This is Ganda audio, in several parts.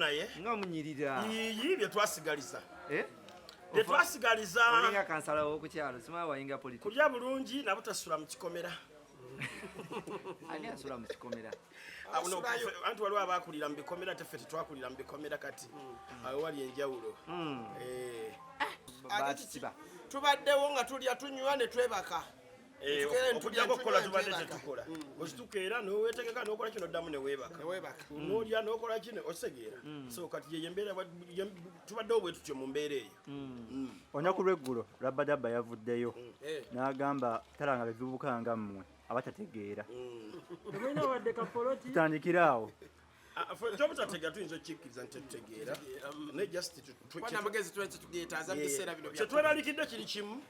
naye nga munyirira yiyi bye twasigaliza eh bye twasigaliza olinga kansala w'okukyalo simaa wayinga politiki kulya bulungi nabo tasula mu kikomera ani asula mu kikomera anti waliwo abakulira mu bikomera te ffe tetwakulira mu bikomera kati hmm. awo wali enjawulo hmm. eh. ah, tubaddewo nga tulya tunywa ne twebaka Eh, okujjako okukola tubadde tetukola mm, mm. okituka era nowetegeka nokola kino oddamu newebaka mm. nolya nokola kino okitegeera so kati yeyembeera tubadde obwe tutyo mu mbeera eyo olunaku lweggulo rabadabba yavuddeyo eh. n'agamba talanga bebibuka nga mmwe abatategeera tutandikire awo kyobutatega tuyinza okikkiriza nti tetutegeera naye justnamagezi tugeetaaza mubiseera bino kyetweralikidde kiri kimu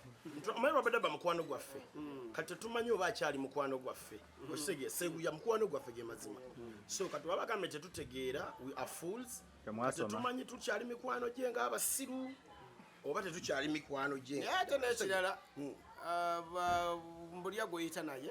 omanyi babadde ba mukwano gwaffe hmm. kati tetumanyi oba akyali mukwano gwaffe hmm. okisegee seguya mukwano gwaffe ge mazima hmm. so kati baba gambe tetutegeera we are fools tetumanyi tukyali mikwano gye ngaabasiru oba tetukyali mikwano gye naye ate nekirala uh, mbulya gweyita naye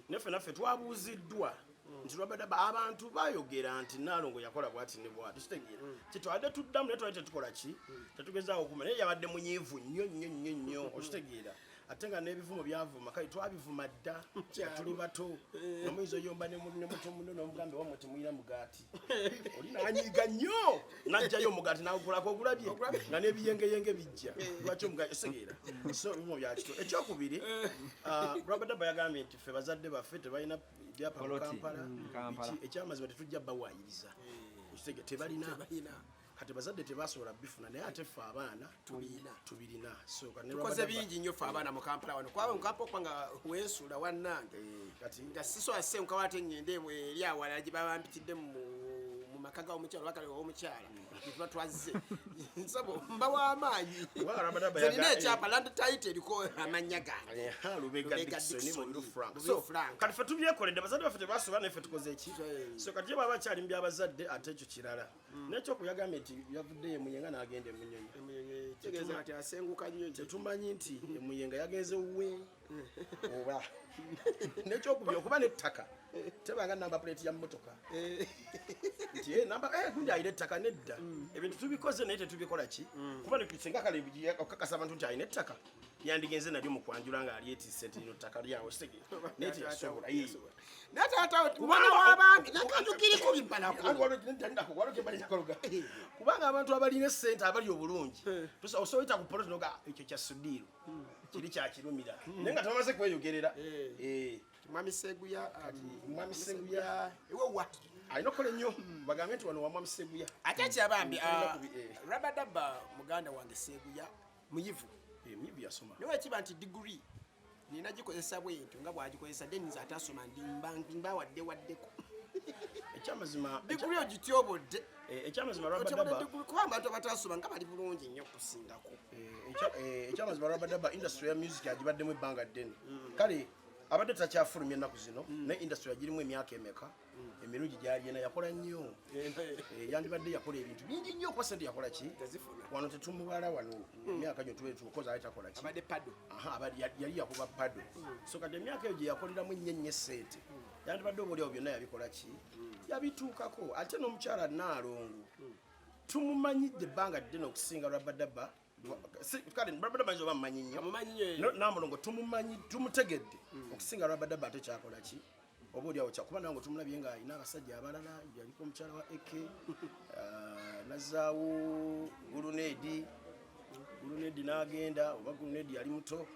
naffe naffe twabuuziddwa nti lwabadde abantu bayogera nti naalongo yakola bwati ne bwati kitegeera mm. kyetwabadde tuddamu naye twali tetukola ki mm. tetugezaawo okuma naye yabadde munyiivu nnyo nnyo nnyo nnyo mm. okitegeera ate nga n'ebivumo byavuma kale twabivuma dda tuli bato eh. nomuyinza oyomba ne muto muno nomugambe wamwe temuyina mugaati nanyiga nnyo najjayo omugati nagukulako ogulabye nga n'ebiyengeyenge bijja lwaki omugati osegeera so bimu byakito ekyokubiri uh, rabadaba yagambye nti ffe bazadde baffe tebalina byapa mu kampala mm, ekyamazima tetujja bawaayiriza mm. tebalina kati bazadde tebasobola bifuna naye ate ffe abaana tubirina tubirina tukoze bingi nnyo ffe abaana mu kampala wano kwaba mu kampala okuba nga weesuula wannange eh, kati nga sisobola senkawo ate ngende eri awalala gye baba mpitidde mu maka ga omukyala wakale omukyala gyetuba twazze nsabo mba w'amaanyi zerina ekyapa land tit eriko amannya gange kati fe tubyekoledde abazadde baffe tebasobola naye fe tukoze eki so kati ye baba bakyali mu byabazadde ate ekyo kirala Mm. nekyo kuyagambye nti yavudde emuyenga nagenda emuyengatetumanyi nti mm. emuyenga yagenze wuwe mm. oba nekyokubi okuba nettaka tebanga namba plate ya motoka eh. nti eh, namba eh, gundi ayina ettaka nedda ebintu tubikoze naye tetubikola ki kuba netusenga kale okakasa abantu nti ayina ettaka yandigenze nalyo mukwanjula nga alyetise nti lino ttaka lyawe sege naye teyasobola naye taata mwana w'abantu nakajukiriko bibalakubanga eh. abantu abalina esente abali obulungi eh. osobola ku poloti noga ekyo kya sudiiro hmm. kiri kyakirumira hmm. naye nga tebamaze kweyogerera eh. mwami seguya um, mwami seguya ewowa alina okukola ennyo hmm. bagambe nti wano wa mwami seguya ate kyabambi ah, rabadaba muganda wange seguya muyivu muyivu yasoma naye wakiba nti diguri nina gikozesa bwentyo nga bwagikozesa then nze atasoma ndimbawadde waddeko ekyamazima diguli ogityobodde eh, ekyamazima kuba abantu abatasoma nga bali bulungi nnyo okusingako eh, ekyamazima eh, rabadaba industry ya music agibaddemu ebbanga ddene mm. kale abadde takyafulumya ennaku zino mm. naye industry agirimu emyaka emeka emirungi gyalina yakola nnyo eh, yandibadde yakola ebintu bingi nnyo kuba sente yakola ki wano tetumubala wano hmm. emyaka gyo tukozi ali takola ki yali yakuba pado hmm. so kati emyaka eyo gyeyakoleramu nnyo nnyo esente hmm. yandibadde obaolyawo byonna yabikola ki yabituukako ate n'omukyala naalongo tumumanyidde ebbanga ddene okusinga rabadaba kale brabada manyi oba mumanyi nnyo namulongo tumumanyi tumutegedde hmm. okusinga rabadaba ate kyakola ki oba olyawo kyakuba nange tumulabye nga alina abasajja abalala yaliko omukyala wa ek ah, nazaawo guluneedi guluneedi n'agenda oba guluneedi yali muto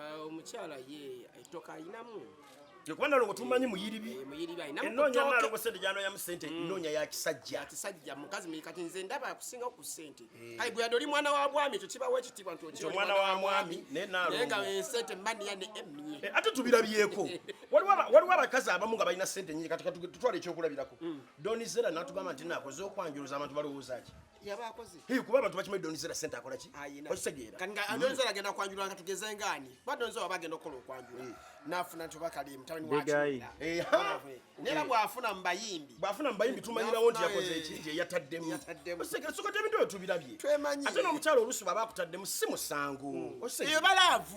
Uh, omukyala ye etoka alinamu kuba nalongo tumanyi muyiribi eh, enonya nalongo sente gyanoyamu sente mm. nonya yakisajja kisajja mukazi muyikati nze ndaba akusinga ku sente eh. kale gwe yadoli mwana wa bwami ekyo kibawo ekitiibwa nti omwana wa mwami naye nalongo eh, sente mani ya ne emye ate tubirabyeko waliwo abakazi abamu nga balina sente nyingi kati tutwala ekyokulabirako mm. doni zera natugamba nti nakoze okwanjuluza abantu balowooza ki yaba akoze hey, kuba abantu bakimanyi donizera sente akola ki okitegeera kati nga donizera agenda kwanjula nga tugeze ngaani kuba donizera waba agenda okukola okwanjula nafuna nti obakali mutabani wakinera bwafuna mubayimbi bwafuna mubayimbi tumanyirawo nti yakoze eki eh, gyeyataddemu okitegera soka tebintu ebyo tubirabye ate n'omukyalo olusi baba akutaddemu si musango hmm. eyo balaavu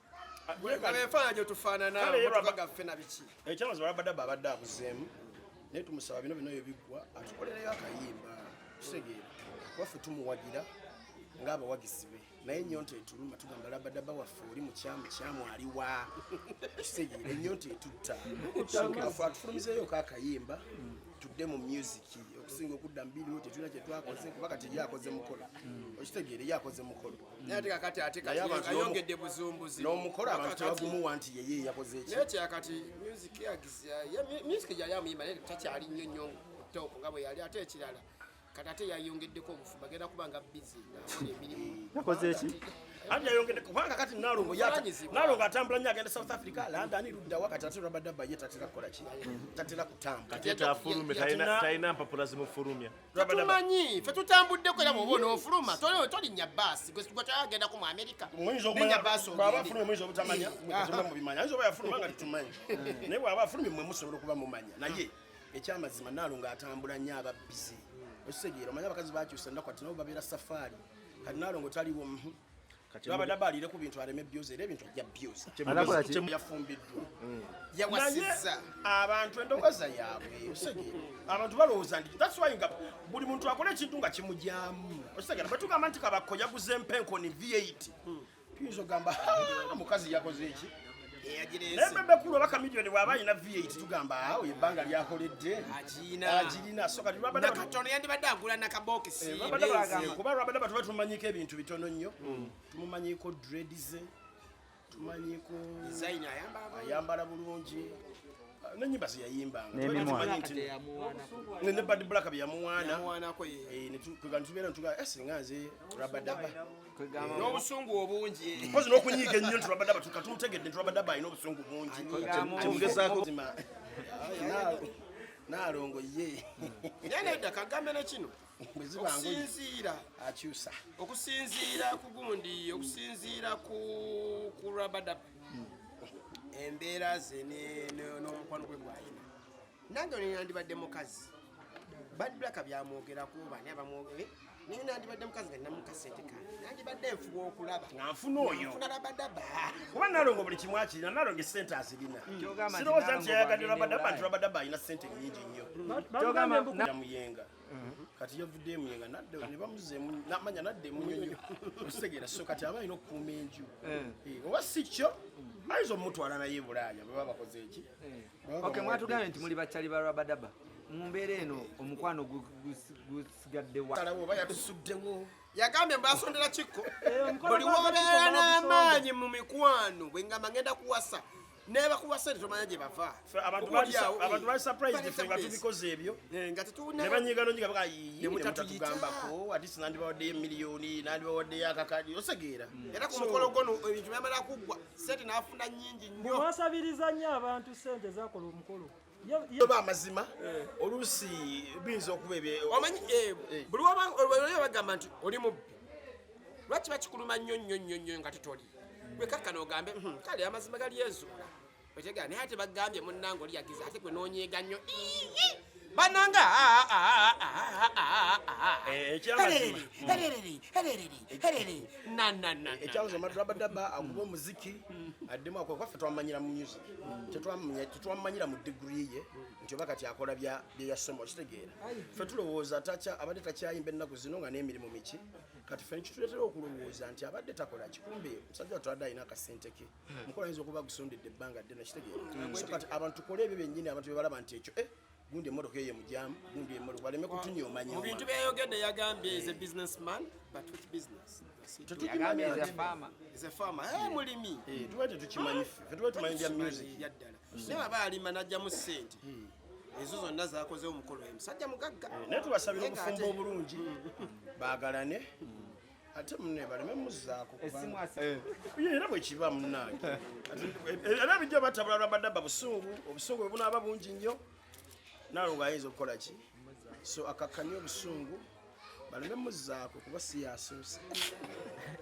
ebifaananyi gyetufaanana motoka gaffe na biki ekyamazima rabadaba abadde abuzeemu naye tumusaba bino bino yo biggwa atukolereyo akayimba kitegeera waffe tumuwagira ng'abawagizi be naye enyonta etuluma tugamba labadaba waffe oli mukyamu kyamu aliwa kitegeera enyonta etutta afe atufulumizeeyo ko akayimba tudde mu music okusinga okudda mu biriwo tetulina kyetwakoze kuba kati yakoze mukolo okitegeera yakoze mukolo naye kati ate ayongedde buzumbuzi n'omukolo abantu tebagumuwa nti yeye yakoze eki naye kyakati music yagizya music gyali amuyimba naye takyali nnyo nnyo top nga bwe yali ate ekirala kati ate yayongeddeko obufumba agenda kuba nga bizi ngaakola emirimu yakoze eki ati yayongedde kubanga kati nalongo nalongo atambula nyo agenda south africa london luddawa kati ate rabadaba ye tatera kukola ki tatera kutambula talina mpapula zimufulumya tumanyi fe tutambuddeko era bwoba onofuluma tolinnya baasi gwetwagendako mu amerika nenya baasi ogendeaafulumamubimanyayinzaobayafulumangatumanyi naye bwaba afulumye mwe musobola okuba mumanya naye ekyamazima naalo nga atambula nnyo ababbizi ekitegeera omanya abakazi bakyusa ennaku ati nabo babeera safaari kati naalo nga otaliwo Baba daba alire ku bintu areme byoze era ebintu ajja byoze. Anakola ki? Yafumbiddwa. Mm. Yawasiza abantu endogoza yaabwe. Osege. Abantu balowooza nti that's why nga buli muntu akola ekintu nga kimujyamu. Osege na batuka amanti kabakko yaguze mpenko ni V8. Hmm. Tuyinza ogamba mukazi yakoze eki? naye bebekulu oba kamilioni bwaba alina v8 tugamba awo ebbanga lyakoledde agirina sokatibabadakatono yandibadde agula nakabokisi eh, kuba lwabadde batuba tumanyiko ebintu bitono nnyo hmm. tumumanyiko dredize tumanyiko ayambala bulungi nenyimba zeyayimbanga ne bad black byeyamuwaanatugatubeera ntuga eh, singa nze rabadaba n'obusungu obungi mpozi n'okunyiiga ennyo nti rabadaba tukatumutegedde nti rabadaba alina obusungu bungi kyemugezaako naalongo ye yenedda kagambe ne kino okusinziira akyusa okusinziira ku gundi okusinziira ku rabadaba embeera ze n'omukwano gwe gwayina nange ono yandibadde mukazi bad black byamwogerako bani abamwogere naye nandibadde mukazi nga ninamu kasente kange nandibadde nfuba okulaba nga nfuna oyo nfuna labadaba kuba nalongo buli kimu akirina nalongo esente azirina sirowooza nti yayagadde labadaba nti labadaba alina sente nyingi nnyo muyenga kati yavudde emuyenga nadda ne bamuzeemu namanya nadda emunyonyo okitegeera so kati aba alina okukuuma enju eh. Eh, oba si kyo ayinza omutwala naye bulaaya bwe baba bakoze eki eh. ok mwatugambye nti muli bakyali ba rabadaba mu mbeera eno omukwano gusigaddewa talawo oba yatusuddewo yagambye mbasondera kikko buli wobeera n'amaanyi mu mikwano bwe ngamba ngenda kuwasa nebakuwa sente tomanya gye bava abantu bali surprised ffe nga tubikoze ebyo eh, nga tetunebanyiigano nyiga baka yiimutatugambako atisi nandibawaddeyo emiliyoni nandibawaddeyo akakadi osegeera hmm. era ku mukolo gono ebintu byamala kuggwa sente nafuna nyingi nnyo bwasabiriza nnyo abantu sente zakola omukolo yoba amazima eh. oluusi biyinza okuba ebyomanyi eh, eh. buli wabanga bagamba nti oli mubbi lwaki bakikuluma nnyo nnyo nnyo nnyo nga tetoli wekakkana ogambe hmm, kale amazima gali ezuula otegera naye ate bagambye munnange oli yagiza ate gwe noonyeega nnyo bananga ekyabuza madabadaba akuba omuziki addemu akwaffe twamanyira mu music tetwamumanyira mu digiri ye nti oba kati akola byeyasoma okitegeera fe tulowooza abadde takyayimba ennaku zino nga n'emirimu miki kati fe nikituletera okulowooza nti abadde takola kikumbe musajja watwadde alina akasente ke mukola yinza okuba gusondedde ebbanga ddene kitegeera so kati abantu tukole ebyo byennyini abantu bebalaba nti ekyo eh, gundi emotoka eyo mujamu gundi emotoka baleme kutunyomanya mu bintu byayogedde yagambye is a businessman but which business tetukimanya is a farmer is a farmer eh hmm. mulimi eh tuwe tetukimanyi fe tuwe tumanyi bya music yaddala hmm. ne baba alima najja mu sente hmm. ezo zonna zakoze omukolo omusajja mugagga eh, naye tubasabira obufumbo obulungi bagalane ate munne baleme muzzaako eh. era bwe kiba munnange eh, era bijja batabula lwabadaba busungu obusungu bwe bunaaba bungi nnyo nalo ng'ayinza okukola ki so akakkanye obusungu baleme muzzaako kuba si yasoose